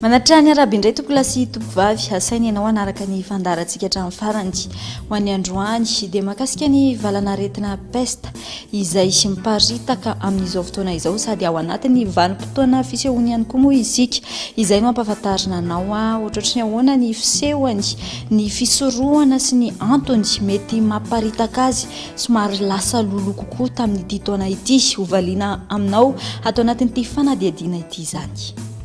Manattraha ny arabe indray tompolahy sy tompovavy, asaina ianao hanaraka ny fandaharantsika hatramin'ny farany. Ho an'ny androany dia mahakasika ny valan'aretina pesta izay miparitaka amin'izao fotoana izao sady ao anatin'ny vanim-potoana fisehoany ihany koa moa isika. Izay no ampahafantarina anao ohatrohatry ny ahoana ny fisehoany, ny fisorohana sy ny antony mety mamparitaka azy somary lasa lolo kokoa tamin'ity taona ity. Hovaliana aminao ato anatin'ity fanadihadiana ity izany.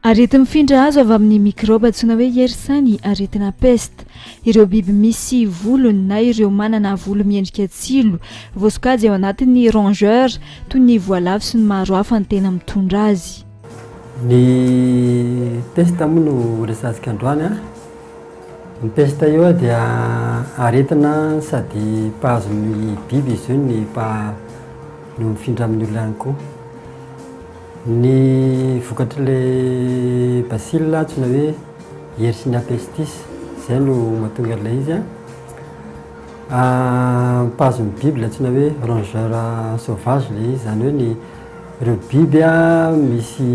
Areti-mifindra azo avy amin'ny mikraoba antsoina hoe Yersin ny aretina peste. Ireo biby misy volony na ireo manana volo miendrika tsilo, voasokajy ao anatin'ny rongeurs, toy ny voalavo sy ny maro hafa no tena mitondra azy. Ny peste moa no resahantsika androany. Ny peste io dia aretina sady mpahazo ny biby izy io ny mpaha- no mifindra amin'ny olona ihany koa. Ny vokatr'ilay bacille antsoina hoe Yersinia pestis, izay no mahatonga an'ilay izy. Mpahazo ny biby ilay antsoina hoe rongeur sauvage ilay izy, izany hoe ny ireo biby misy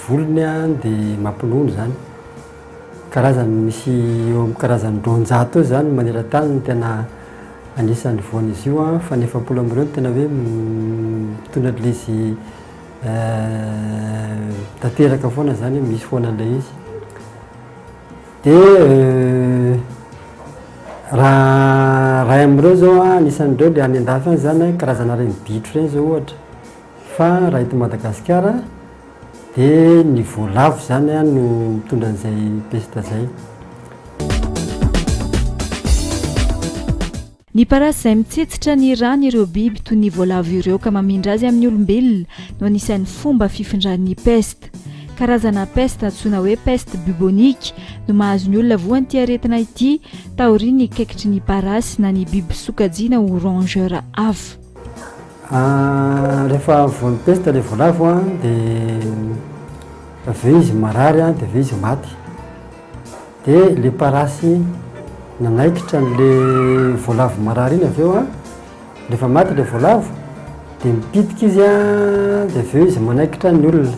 volony dia mampinono izany. Karazany misy eo amin'ny karazany roanjato eo izany maneran-tany no tena anisan'ny voan'izy io an, fa ny efapolo amin'ireo no tena hoe mitondra an'ilay izy tanteraka foana izany hoe misy foana an'ilay izy. Dia raha iray amin'ireo izao an, anisan'ireo dia any an-dafy any izany an, karazana ireny bitro ireny izao ohatra, fa raha eto Madagasikara. Dia ny voalavo izany no mitondra an'izay pesta izay. Ny parasy izay mitsetsitra ny ran'ireo biby toy ny voalavo ireo ka mamindra azy amin'ny olombelona no anisan'ny fomba fifindran'ny pesta. Karazana pesta antsoina hoe peste bubonique no mahazo ny olona voan'ity aretina ity taorian'ny kaikitry ny parasy na ny biby sokajiana ho rongeurs hafa. Ah, rehefa voan'ny pesta ilay voalavo an, dia avy eo izy marary an, dia avy eo izy maty. Dia ilay parasy nanaikitra an'ilay voalavo marary iny avy eo an, rehefa maty ilay voalavo dia mipitika izy an, dia avy eo izy manaikitra ny olona.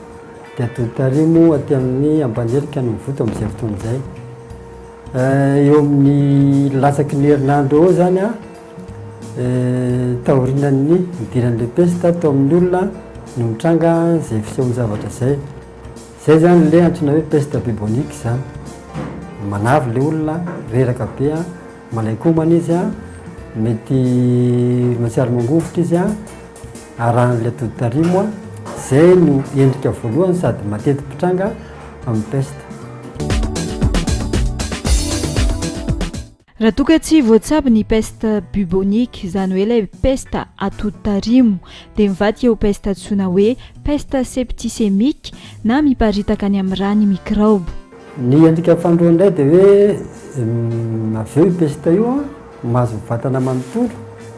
dia adotario moa aty amin'ny Ampanilika no mivoto amin'izay fotoana izay. Eh, eo amin'ny latsaky ny herinandro eo zany a eh, taorinan'ny idiran'le pesta tao amin'ny olona no mitranga izay fisehon'ny zavatra izay zay zany le antsoina hoe pesta bubonique zany manavy le olona reraka be a Malaikomana izy an, mety mahatsiaro mangovitra izy an, arahan'ilay tody tarimo an, izay no endrika voalohany sady mateti-pitranga amin'ny pesta. Raha toa ka tsy voatsabo ny peste bubonique, izany hoe ilay pesta atody tarimo, dia mivadika ho pesta antsoina hoe peste septicémique na miparitaka any amin'ny rà ny mikraoba. Ny endrika fahandroany indray dia hoe avy eo io pesta io an, mahazo ny vatana manontolo,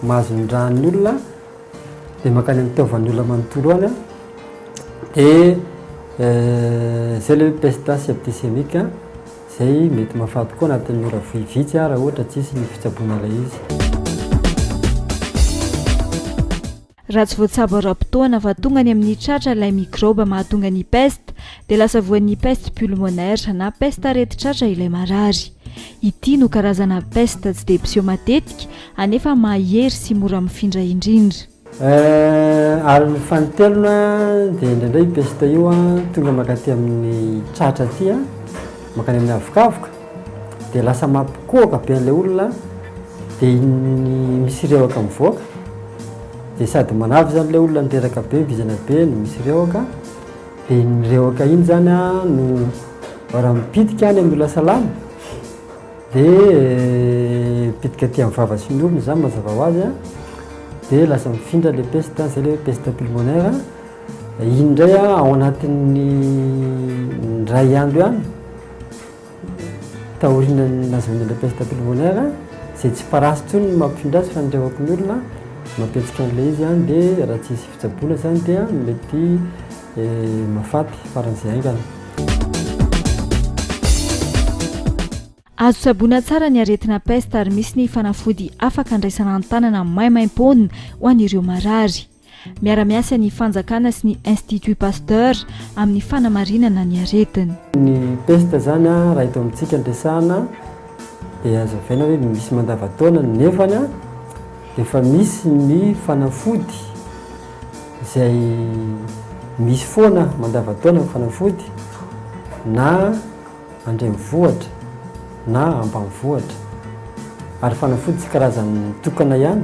mahazo ny ran'ny olona dia mankany amin'ny taovan'ny olona manontolo any an, dia izay ilay hoe pesta septisemika izay mety mahafaty koa anatin'ny ora vitsy an raha ohatra tsisy ny fitsaboana ilay izy. Raha tsy voatsabo ara-potoana fa tonga any amin'ny tratra ilay mikraoba mahatonga ny peste dia lasa voan'ny peste pulmonaire na peste aretin-tratra ilay marary. Ity no karazana peste tsy dia mpiseho matetika anefa mahahery sy mora mifindra indrindra. Eh, ary ny fanintelony an, dia indraindray io peste io an, tonga mankaty amin'ny tratra aty an, mankany amin'ny havokavoka, dia lasa mampikohoka be an'ilay olona dia iny misy revaka mivoaka dia sady manavy izany ilay olona nireraka be vizana be no misy revaka dia iny revaka iny zany a no raha mipitika any amin'ny olona salama dia mipitika aty amin'ny vava sy ny orona izany mazava ho azy a dia lasa mifindra ilay peste izay ilay hoe peste pulmonaire iny indray a ao anatin'ny indray andro ihany Taorian'ny nazahoany an'ilay pièce d'Abbé Limoner, izay tsy parasy intsony ny mampifindra azy fa ny iray hopin'ny olona mampihetsika an'ilay izy dia raha tsy hisy fitsaboana izany dia mety mahafaty faran'izay haingana. Azo tsaboina tsara ny aretina peste ary misy ny fanafody afaka andraisana an-tanana maimaimpoana ho an'ireo marary. Miara-miasa ny fanjakana sy ny Institut Pasteur amin'ny fanamarinana ny aretina. Ny pesta izany raha eto amintsika no resahana dia hazavaina hoe misy mandava-taona nefa dia efa misy ny fanafody izay misy foana mandava-taona ny fanafody na Andrenivohitra na ambanivohitra ary fanafody tsy karazany tokana ihany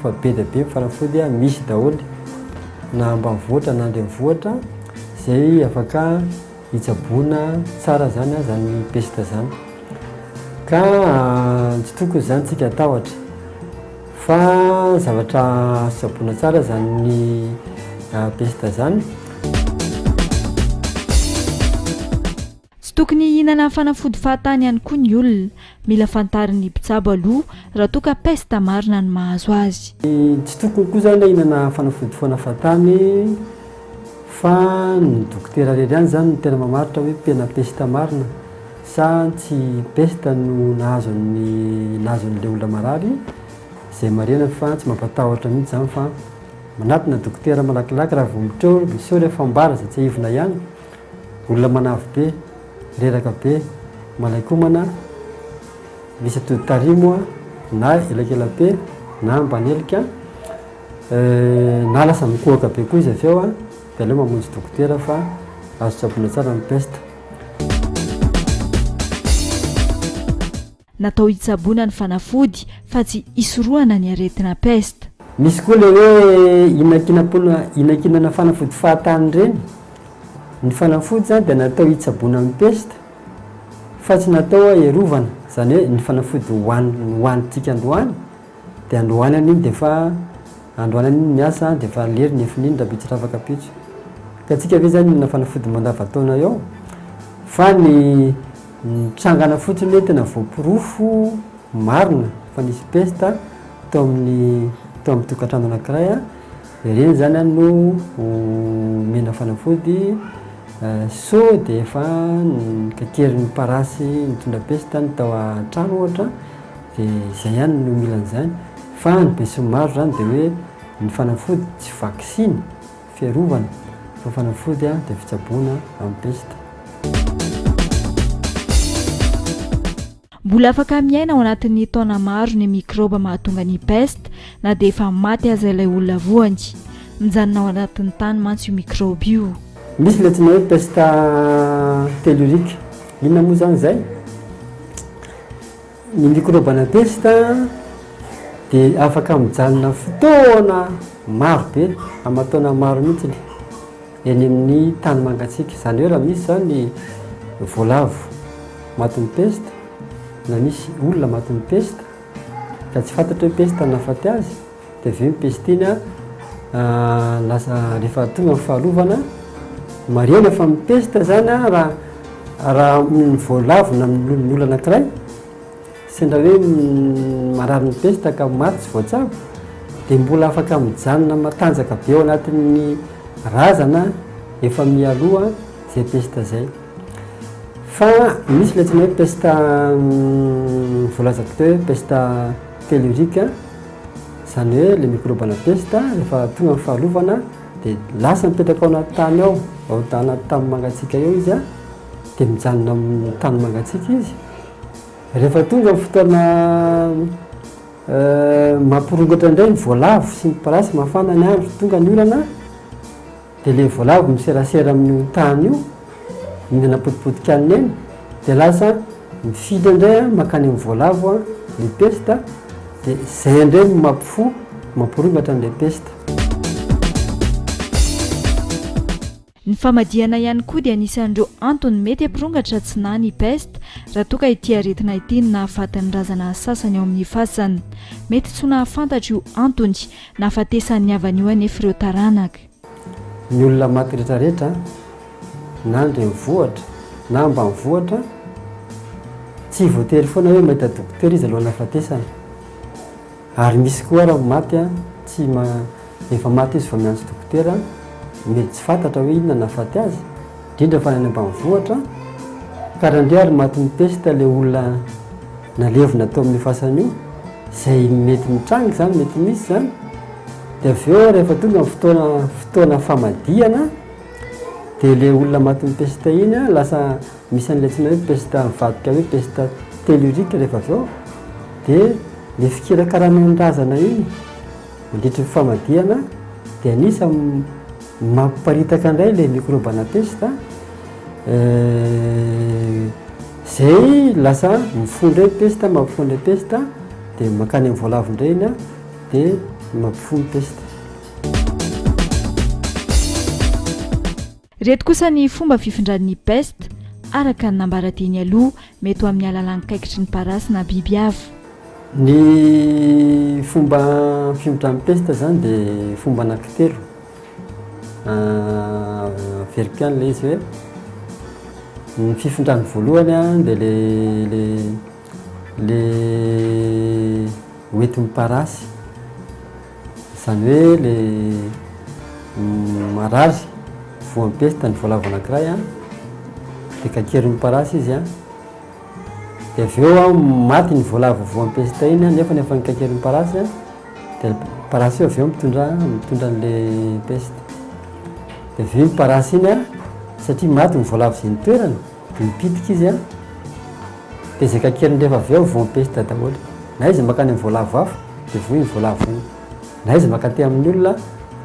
fa be dia be ny fanafody misy daholo na ambanivohitra na andrenivohitra izay afaka hitsaboana tsara izany izany pesta izany ka tsy tokony izany tsika atahotra Fa zavatra tsaboina tsara zany ny pesta zany. Tsy tokony hihinana fanafody fahatany ihany koa ny olona. Mila fantarin'ny mpitsabo aloha raha toa ka pesta marina no mahazo azy. Tsy tokony koa zany hihinana fanafody foana fahatany fa ny dokotera irery ihany zany no tena mamaritra hoe tena pesta marina. Sa tsy peste no nahazo an'i nahazo an'ilay olona marary izay marihana fa tsy mampatahotra mihitsy izany fa manatona dokotera malakilaky raha vao mitreo miseho ilay fambara izay tsiahivina ihany olona manavy be reraka be malaikomana misy atody tarimo na elakelape na mpanelika na lasa mikohaka be koa izy avy eo dia aleo mamonjy dokotera fa azo tsaboina tsara ny peste Natao hitsaboana ny fanafody fa tsy hisorohana ny aretina peste. Misy koa ilay hoe inakinam-poana, inakinana fanafody fahatany ireny. Ny fanafody izany dia natao hitsaboana ny peste fa tsy natao haherovana, izany hoe ny fanafody hohanintsika androany. Dia androanany iny dia efa androanany iny ny asa dia efa lery ny efiny iny raha be tsy rava kapitso. Ka antsika ve zany na fanafody mandavataona eo fa ny ny trangana fotsiny hoe tena voaporofo marina fa nisy pesta teo amin'ny teo amin'ny tokantrano anankiray dia ireny zany no ho omena fanafody sao dia efa ny kakerin'ny parasy nitondra pesta ny tao an-trano ohatra. Dia izay ihany no mila an'izany. Fa ny besinimaro izany dia hoe ny fanafody tsy vaksiny, fiarovana, fa fanafody dia fitsaboana amin'ny pesta. Mbola afaka miaina ao anatin'ny taona maro ny mikraoba mahatonga ny pesta, na dia efa maty aza ilay olona voany. Mijanona ao anatin'ny tany mantsy io mikraoba io. Misy ilay antsoina hoe pesta tellurique. Inona moa izany izay? Ny mikrôbana pesta dia afaka mijanona fotoana maro be, aman-taona maro mihitsy, eny amin'ny tany mangatsiaka. Izany hoe raha misy izany voalavo matin'ny pesta, na misy olona matin'ny pesta, ka tsy fantatra hoe pesta no nahafaty azy, Dia avy eo ny pestina, lasa rehefa tonga ny fahalovana, marihina fa ny pesta izany raha raha voalavina amin'ny olona anankiray, sendra hoe marary ny pesta ka maty tsy voatsabo, dia mbola afaka mijanona matanjaka be ao anatin'ny razana efa mialoha izay pesta izay. Fa misy ilay antsoina hoe pesta voalaza koa hoe pesta tellurique. Izany hoe ilay mikrôba ana pesta rehefa tonga ny fahalovana dia lasa mipetraka ao anaty tany ao, ao anaty tany mangatsiaka eo izy dia mijanona amin'ny tany mangatsiaka izy. Rehefa tonga ny fotoana mampirongatra indray ny voalavo sy ny parasy, mafana ny andro, tonga ny orana, Dia ilay voalavo miserasera amin'io tany io, mihinana potipotika an'i Neny, dia lasa mifidy indray an, mankany amin'ny voalavo an, ny pesta, dia izay indray no mampifoha, mampirovatra an'ilay pesta. Ny famadihana ihany koa dia anisan'ireo antony mety hampirongatra tsy na ny pesta, raha toa ka ity aretina ity no nahafaty ny razana sasany ao amin'ny fasana. Mety tsy ho nahafantatra io antony nahafatesan'ny havany io anefa ireo taranaka. Ny olona maty retraretra na an-drenivohitra na ambanivohitra tsy voatery foana hoe mahita dokotera izy alohan'ny hahafatesana. Ary misy koa ara maty tsy ma efa maty izy vao miantso dokotera, mety tsy fantatra hoe inona nahafaty azy, indrindra fa ny any ambanivohitra. Ka raha ndray ary matin'ny pesta ilay olona nalevina tao amin'ny fasana io, izay mety mitranga izany, mety misy izany, Dia avy eo rehefa tonga ny fotoana fotoana famadihana dia ilay olona matin'ny pesta iny a, lasa misy an'ilay tsy hoe pesta mivadika hoe pesta tellurique rehefa avy eo dia ilay fikirakarana ny razana iny mandritry ny famadihana dia anisan'ny mampiparitaka indray ilay microbe ana pesta izay lasa mifoha indray pesta mampifoha indray pesta dia mankany amin'ny voalavo indray iny a Dia mampifoha ny pesta. Ireto kosa ny fomba fifindran'ny pesta, araka ny nambara teny aloha, mety ho amin'ny alalan'ny kaikitry ny parasy na biby hafa. Ny fomba fimindran'ny pesta izany dia fomba anankitelo. Averiko ihany ilay izy hoe ny fifindran'ny voalohany dia ilay ilay Le hoentin'ny parasy, izany hoe le marary voan'ny pesta ny voalavo anankiray an, dia kaikerin'ny parasy izy an, dia avy eo an maty ny voalavo voan'ny pesta iny an, nefa efa nikaikerin'ny parasy an, dia parasy io avy eo mitondra mitondra an'le pesta, dia avy eo iny parasy iny an, satria maty ny voalavo izay nitoerany. Mipitika izy an! Dia izay kakeriny rehefa avy eo voa am-pesta daholo. Na izy mankany amin'ny voalavo afo dia voa iny voalavo iny. Na izy mankaty amin'ny olona,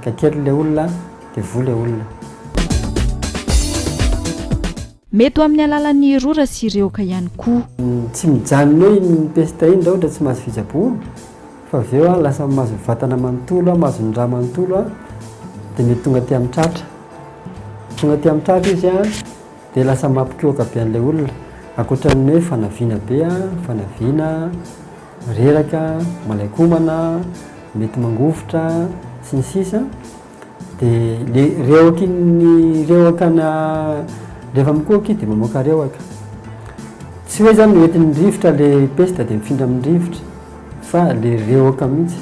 kakeriny ilay olona dia voa ilay olona. Mety ho amin'ny alalan'ny rora sy rehoka ihany koa. Tsy mijanona eo iny pesta iny raha ohatra tsy mahazo fitsaboana fa avy eo lasa mahazo vatana manontolo, mahazo ny rà manontolo dia mety tonga aty amin'ny tratra. Tonga aty amin'ny tratra izy an! Dia lasa mampikohoka be an'ilay olona. Ankoatra ny hoe fanaviana be, fanaviana, reraka, malain-komana, mety mangovitra, sy ny sisa Dia le rehoky ny rehoka na rehefa mikohoka izy dia mamoaka rehoka. Tsy hoe zany hoentin'ny rivotra le pesta dia mifindra amin'ny rivotra fa le rehoka mihitsy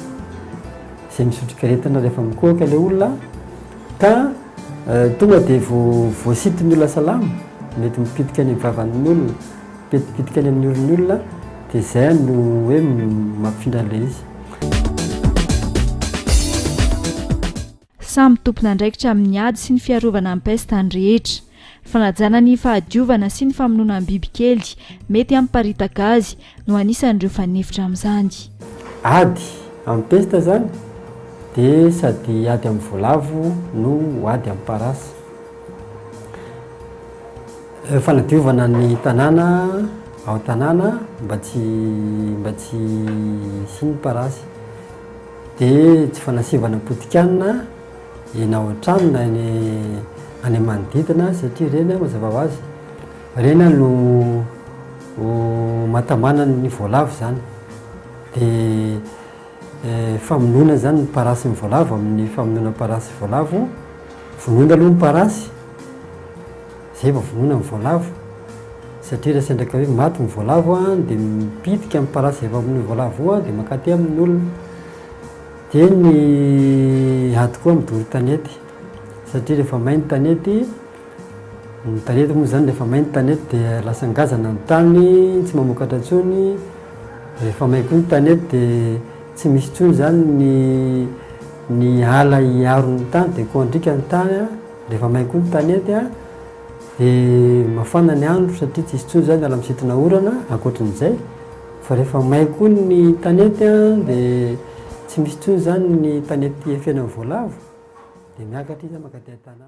izay misotroka aretina rehefa mikohoka ilay olona Ka tonga dia vao voasitony ny olona salama, mety mipitika any amin'ny vavan'olona, mety mipitika any amin'ny oron'ny olona, dia izay no hoe mampifindra an'ilay izy. Samy tompon'andraikitra amin'ny ady sy ny fiarovana ny pesta ny rehetra. Fanajana ny fahadiovana sy ny famonoana ny bibikely mety hamparitaka azy no anisan'ireo fanefitra amin'izany. Ady amin'ny pesta izany dia sady ady amin'ny voalavo no ady amin'ny parasy. Fanadiovana ny tanàna ao an-tanàna mba tsy mba tsy hisian'ny parasy. Dia tsy fanasivana potikanina. Ianao hatrany na eny any manodidina satria ireny an mazava ho azy ireny an no mahatamana ny voalavo izany dia famonoana izany ny parasy ny voalavo amin'ny famonoana ny parasy voalavo vonoina aloha ny parasy izay vao vonoina ny voalavo satria raha sandraka hoe maty ny voalavo an dia mipitika ny parasy izay efa vonoina ny voalavo eo dia mankaty amin'ny olona Dia ny ady koa midoro tanety satria rehefa may ny tanety, ny tanety moa izany rehefa may ny tanety dia lasa ngazana ny tany, tsy mamokatra intsony, rehefa may koa ny tanety dia tsy misy intsony izany ny ny ala hiaro ny tany dia kôndrika ny tany an, rehefa may koa ny tanety an, dia mafana ny andro satria tsy hisy intsony izany ny ala misintona orana, ankoatran'izay. Fa rehefa may koa ny tanety dia tsy misy intsony izany ny tanety efena ny voalavo dia miakatra izy mankaty an-tanàna.